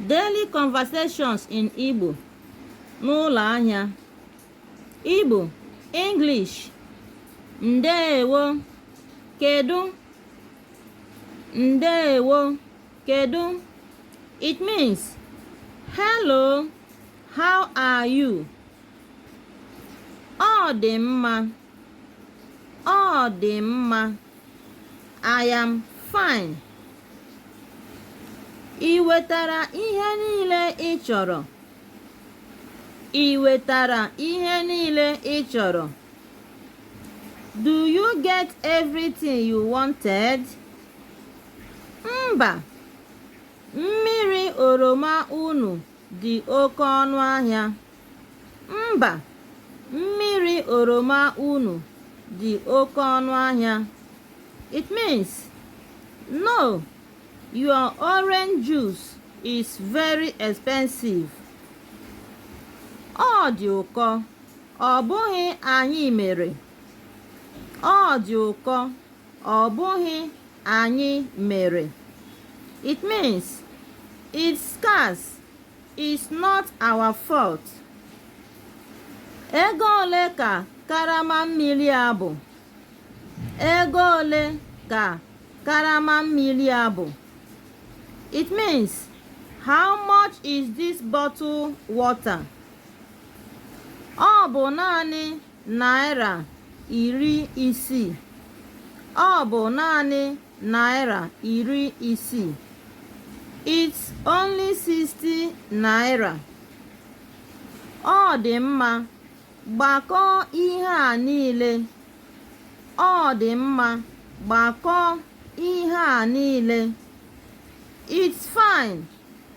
Daily conversations in Igbo n'ụlọ ahịa Igbo English ndeewo kedu ndeewo kedu it means hello how are you ọ dị mma ọ dị mma I am fine. Ị wetara ihe niile ị chọrọ. Ị wetara ihe niile ị chọrọ. Do you get everything you wanted? Mba, mmiri oroma unu dị oke ọnụ ahịa. Mba, mmiri oroma unu dị oke ọnụ ahịa. It means, no, your orange juice is very expensive. Ọ dị ụkọ, ọ bụghị anyị mere. Ọ dị ụkọ, Ọ bụghị anyị mere. It means it's scarce. It's not our fault. Ego ole ka karama mmili a bụ? Ego ole ka karama mmili a bụ? It means how much is this bottle water? Ọ bụ naanị naira iri isii. Ọ bụ naanị naira iri isii. It's only 60 naira. Ọ dị mma. Gbakọọ ihe a niile. Ọ dị mma. Gbakọọ ihe a niile. It's fine.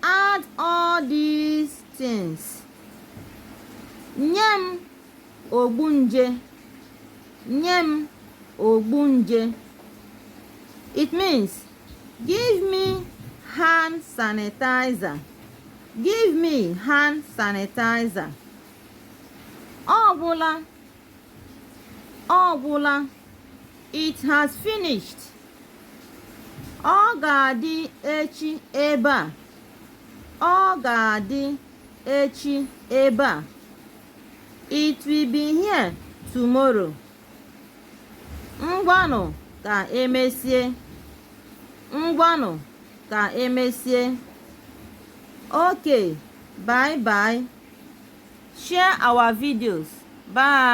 Add all these things. nye m ogbu nje nye m ogbu nje it means give me hand sanitizer give me hand sanitizer ọ gwụla ọ gwụla it has finished ọ ga-adị echi ebe a ọ ga-adị echi ebe a it will be here tomorrow ngwanụ ka emesie ngwanụ ka emesie okay bye bye share our videos bye